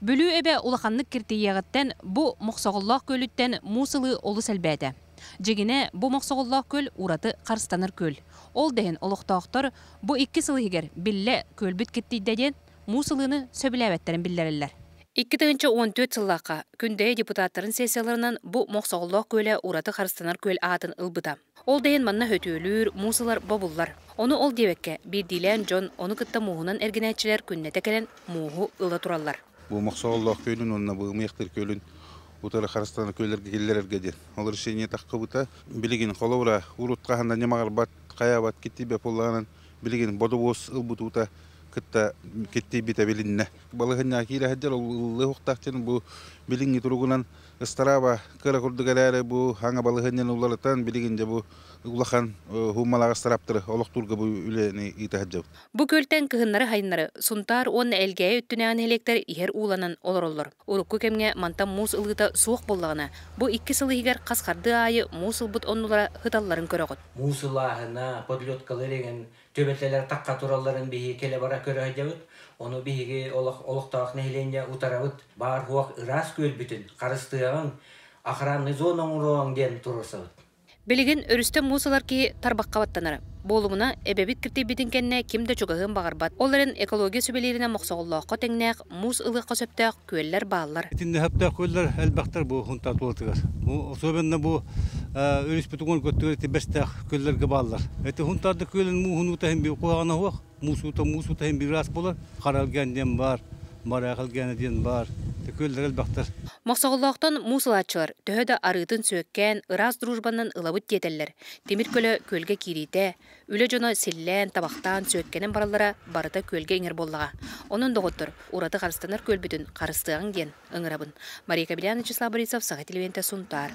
Бүлүү эбэ улаханнык киртийиэҕиттэн бу Мохсоҕоллоох күөлүттэн муус ылыы олус элбээтэ. Дьиҥинэ, бу Мохсоҕоллоох күөл ураты харыстанар күөл. Ол да иһин олохтоохтор бу икки сыл иһигэр биллэ күөлбүт киртийдэ диэн муус ылыыны сөбүлээбэттэрин биллэрэллэр. Икки тыһыынча уон түөрт сыллаахха Күндэйэ депутаттарын сессияларынан бу Мохсоҕоллоох күөлэ ураты харыстанар күөл аатын ылбыта. Ол да иһин манна өтүөлүүр, муус ылар бобуллар. Ону ол диэбэккэ, биирдиилээн дьон, ону кытта мууһунан эргинээччилэр күннэтэ кэлэн мууһу ыла тураллар. Бу Мохсо Оллоох күөлүн уонна Быымыйахтыр күөлүн утары харыстана күөллэргэ киллэрэргэ диэн. Ол решение таххыбыта. Билигин холобура, урут хаһан да ньамаҕырбат, хайаабат киттийбэт буоллаҕынан, билигин бодобуос ылбыт уута кытта киттийбитэ билиннэ. Балаһынньаҕа киирэ сылдьар ол ыллыа уохтаах диэн бу билиҥҥи туругунан Ыстарааба кыра курдук эрээри бу аҥа балаһыанньаны уларытан билигин дьэ бу улахан хуумалаах ыстарааптары олохтуурга бу үлэни ыыта сылдьабыт. Бу күөлтэн кыһыннары-сайыннары Сунтаар уонна Элгээйи өттүнээн нэһилиэктэр иһэр ууланан олороллор. Урукку кэмҥэ мантан муус ылыыта суох буоллаҕына, бу икки сыл иһигэр хас хардыы аайы муус ылбыт оннулара сыталларын көрөҕүт. Муус ылааһына, подледкалар иҥэн, түбэлтэлэр тахха туралларын биһиги кэлэ-бара көрө сылдьабыт. Ону биһиги олох олохтоох нэһилиэнньэ утарабыт. Баар-суох ыраас күөлбүтүн, харыстыаҕыҥ, охранный зона оҥоруоҕуҥ диэн туруорсабыт. Билигин өрүстэн муус ылар киһи тарбахха баттанара. Буолумуна, эбэбит киртийбитин кэннэ ким да чугаһыан баҕарбат. Ол эрэн, экология сүбэлииринэн Мохсоҕоллооххо тэҥнээх, муус ылыахха сөптөөх, Күөллэр бааллар. Итиннэһэптээх күөллэр элбэхтэр бу Хунтаа тулатыгар. Особенно бу өрүспүтүгэр көттүгэр тибэстээх күөллэргэ бааллар. Эти Хунтаарда күөлүн муухунуута хин бир куһаҕана хуох, муусуута муусуута хин бир ас болар, харалген диэн бар, бараахылгена диэн бар. Күөллэр элбэхтэр. Мохсоҕоллоохтон муус ылааччылар төһө да арыытын сүөккээн, ыраас дружбаннан ылабыт диэтэллэр. Тимир көлө күөлгэ киириитэ, Үлэ дьоно силлээн, табахтаан, сүөккэнэн бараллара барыта күөлгэ иҥэр буоллаҕа. Онон, доҕоттор, ураты харыстанар күөлбүтүн харыстыаҕыҥ диэн ыҥырабын. Мария Кобелян, Вячеслав Борисов, Саха телевидениетэ Сунтаар.